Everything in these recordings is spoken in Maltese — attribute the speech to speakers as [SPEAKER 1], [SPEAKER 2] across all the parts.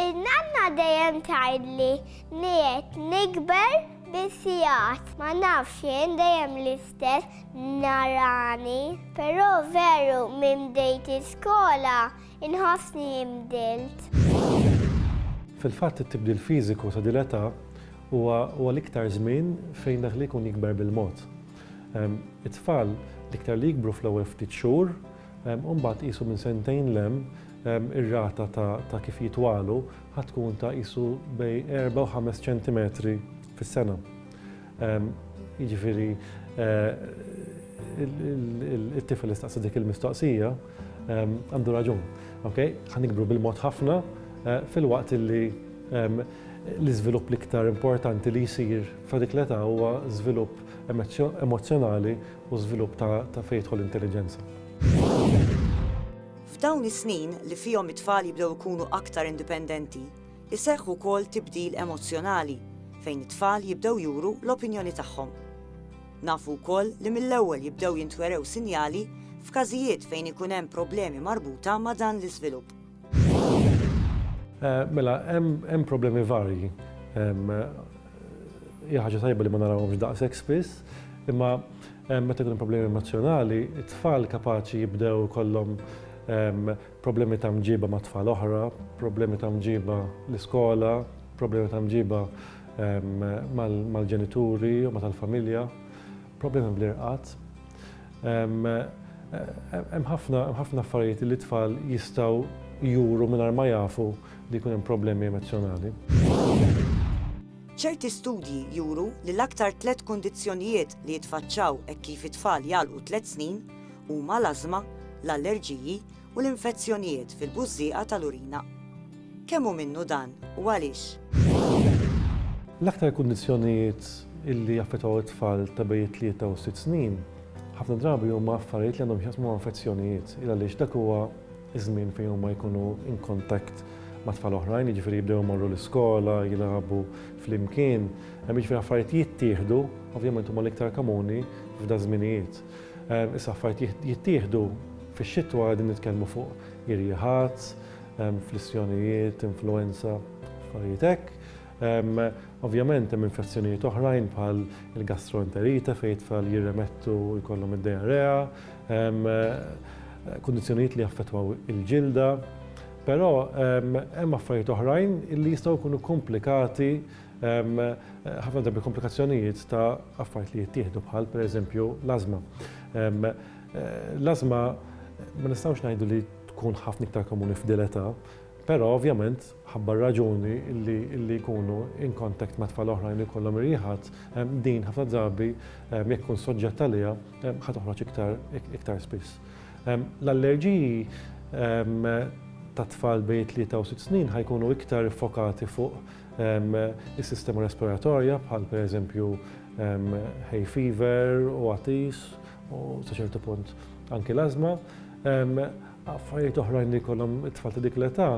[SPEAKER 1] In-nanna dejjem tgħidli li qed nikber bis-sigħat. Ma nafx jien dejjem l-istess narani. Però veru minn bdejt iskola inħossni inbdilt.
[SPEAKER 2] Fil-fatt it-tibdil fiżiku ta' din l-età huwa l-iktar żmien fejn dak li jkun jikber bil-mod. It-tfal l-iktar li jikbru fl-ewwel ftit xhur u mbagħad qisu minn sentejn 'l hemm Ir-rata ta' kif jitwalu ħa tkun ta' qisu bejn erba' u ħames ċentimetri fis-sena. Jiġifieri it-tifel li staqsa dik il-mistoqsija għandu raġun. Okej? Ħa nikbru bil-mod ħafna filwaqt li l-iżvilupp l-iktar importanti li jsir fi dik l-età huwa żvilupp emozzjonali u żvilupp ta' fejn tidħol l-intelliġenza.
[SPEAKER 3] F'dawn is-snin li fihom it-tfal jibdew ikunu aktar indipendenti, iseħħ ukoll tibdil emozzjonali fejn it-tfal jibdew juru l-opinjoni tagħhom. Nafu wkoll li mill-ewwel jibdew jintwerew sinjali f'każijiet fejn ikun hemm problemi marbuta ma' dan l-iżvilupp.
[SPEAKER 2] Mela, hemm problemi varji. Hija ħaġa tajba li ma narawhomx daqshekk spiss, imma meta jkun hemm problemi emozzjonali, it-tfal kapaċi jibdew ikollhom problemi ta' mġiba ma' tfal oħra, problemi ta' mġiba l-iskola, problemi ta' mġiba mal-ġenituri u ma' tal-familja. Problemi bl-irqad. Hemm ħafna affarijiet li t-tfal jistgħu juru mingħajr ma jafu li jkun hemm problemi emozzjonali.
[SPEAKER 3] Ċerti studji juru li l-aktar tliet kundizzjonijiet li jitfaċċaw hekk kif it-tfal jagħlqu tliet snin huma l-ażma, l-allerġiji u l-infezzjonijiet fil-bużżieqa tal-urina. Kemm hu minnu dan u għaliex?
[SPEAKER 2] L-aktar kundizzjonijiet li jaffettwaw it-tfal ta' bejn it-tlieta u s-sitt snin ħafna drabi huma affarijiet li għandhom x'jaqsmu ma' infezzjonijiet il għaliex dak huwa ż-żmien fejn huma jkunu in contact ma' tfal oħrajn, jiġifieri jibdew imorru l-iskola, jilagħbu flimkien, hemm jiġifieri affarijiet jittieħdu, ovvjament huma l-iktar komuni f'daż-żminijiet. Issa affarijiet jittieħdu fix-xitwa qegħdin nitkellmu fuq irjieħat, flissjonijiet, influwenza, affarijiet hekk. Ovvjament hemm infezzjonijiet oħrajn bħal il-gastroenterite fejn it-tfal jirremettu jkollhom id-diarrea, kundizzjonijiet li jaffettwaw il-ġilda. Però hemm affarijiet oħrajn li jistgħu jkunu komplikati Hemm ħafna drabi komplikazzjonijiet ta' affarijiet li jittieħdu bħal pereżempju l-ażma. L-ażma ma nistgħux ngħidu li tkun ħafna iktar komuni f'dil età, però ovvjament ħabba r-raġuni li jkunu in contact ma' tfal oħrajn li jkollhom ir-riħat, din ħafna drabi jekk ikun soġġett għaliha ħa toħroġ iktar spiss. L-allerġiji tat-tfal bejn it-tlieta u sitt snin ħa jkunu iktar iffokati fuq is-sistema respiratorja bħal pereżempju hay fever u għatis u sa ċertu punt anki l-ażma. Affarijiet oħrajn li jkollhom it-tfal ta' dik l-età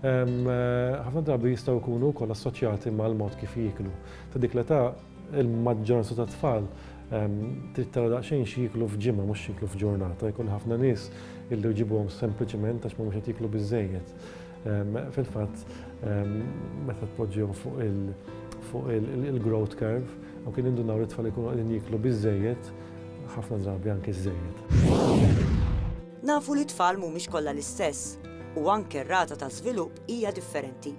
[SPEAKER 2] ħafna drabi jistgħu jkunu wkoll assoċjati mal-mod kif jieklu. Ta' dik l-età il-maġġoranza ta' tfal trid tara daqsxejn xi jieklu f'ġimgħa mhux jieklu f'ġurnata, jkun ħafna nies illi jġibuhom sempliċiment għax mhumiex qed jieklu biżejjed. Fil-fatt, meta tpoġġihom fuq il- fuq il-growth curve u kien indunaw li tfal ikunu għadin jiklu bizzejiet, ħafna drabi anki zzejiet. Nafu
[SPEAKER 3] li tfal mhumiex kollha l-istess u anke r-rata ta' żvilupp hija differenti.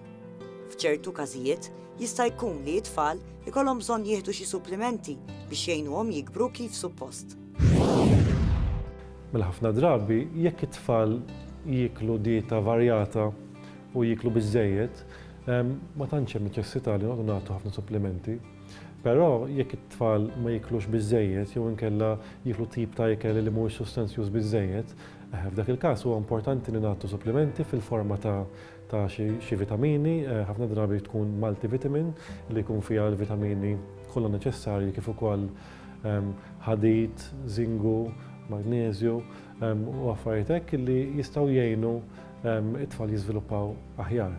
[SPEAKER 3] F'ċertu każijiet jista' jkun li t-tfal ikollhom bżonn jieħdu xi supplimenti biex jgħinuhom jikbru kif suppost. Mela
[SPEAKER 2] ħafna drabi jekk it-tfal jieklu dieta varjata u jieklu biżżejjed, ehm, ma tantx hemm neċessità li noqgħdu nagħtu ħafna supplementi. Però jekk it-tfal ma jiklux biżejjed jew inkella jiklu tip ta' ikel li mhuwiex sustanzjuż biżejjed, eh, f'dak il-każ huwa importanti li nagħtu supplementi fil-forma ta' ta' xi vitamini, eh, ħafna drabi tkun multivitamin li jkun fiha l-vitamini kollha neċessarji kif ukoll ħadid, żingu, magneżju u affarijiet hekk li jistgħu jgħinu t-tfal jiżviluppaw aħjar.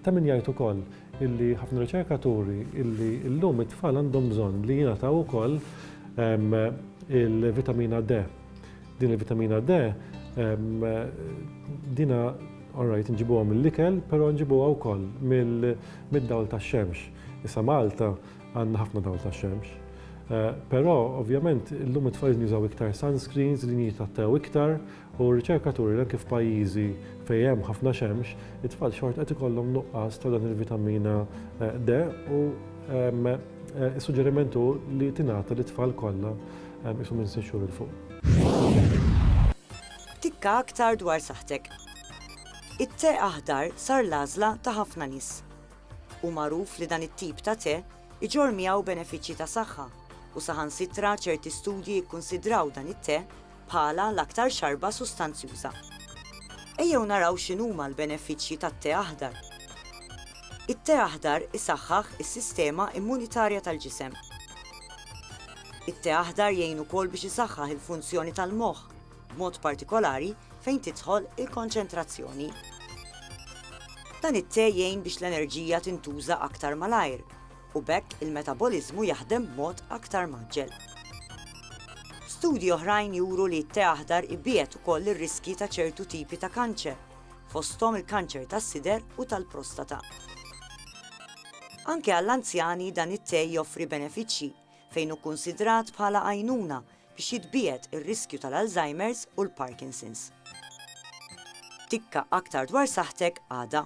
[SPEAKER 2] Ta' min jgħid ukoll illi ħafna riċerkaturi illi llum it-tfal għandhom bżonn li jingħataw ukoll il-vitamina D. Din il-vitamina D dina orajt nġibuha mill-ikel, però nġibuha wkoll mid-dawl tax-xemx. Issa Malta Għandna ħafna dawl tax-xemx. Però, ovvjament, illum it-tfal jużaw iktar sunscreens, din jitgħattew iktar, u r-riċerka turi li anke f'pajjiżi fejn hemm ħafna xemx, it-tfal xort qed ikollhom nuqqas ta' dan il-vitamina D u s-suġġeriment hu li tingħata lit-tfal kollha isu minn sitt xhur 'il fuq.
[SPEAKER 3] Tikka aktar dwar saħħtek. It-te aħdar sar l-għażla ta' ħafna nies. Hu magħruf li dan it-tip ta' te jġorr miegħu benefiċċji ta' saħħa u saħansitra ċerti studji jikkunsidraw dan it-te bħala l-aktar xarba sustanzjuża. Ejjew naraw x'inhuma l-benefiċċji tat-te aħdar. It-te aħdar isaħħaħ is-sistema immunitarja tal-ġisem. It-te aħdar jgħin ukoll biex isaħħaħ il-funzjoni tal-moħħ b'mod partikolari fejn tidħol il-konċentrazzjoni. Dan it-te jgħin biex l-enerġija tintuża aktar malajr u b'hekk il-metaboliżmu jaħdem b'mod aktar mgħaġġel. Studji oħrajn juru li t-te aħdar ibiegħed ukoll ir-riskji ta' ċertu tipi ta' kanċer, fosthom il-kanċer tas-sider u tal-prostata. Anke għall-anzjani dan it-te joffri benefiċċji fejn hu kkunsidrat bħala għajnuna biex jitbiegħed ir-riskju tal-Alzheimer's u l-Parkinson's. Tikka aktar dwar saħħtek għada.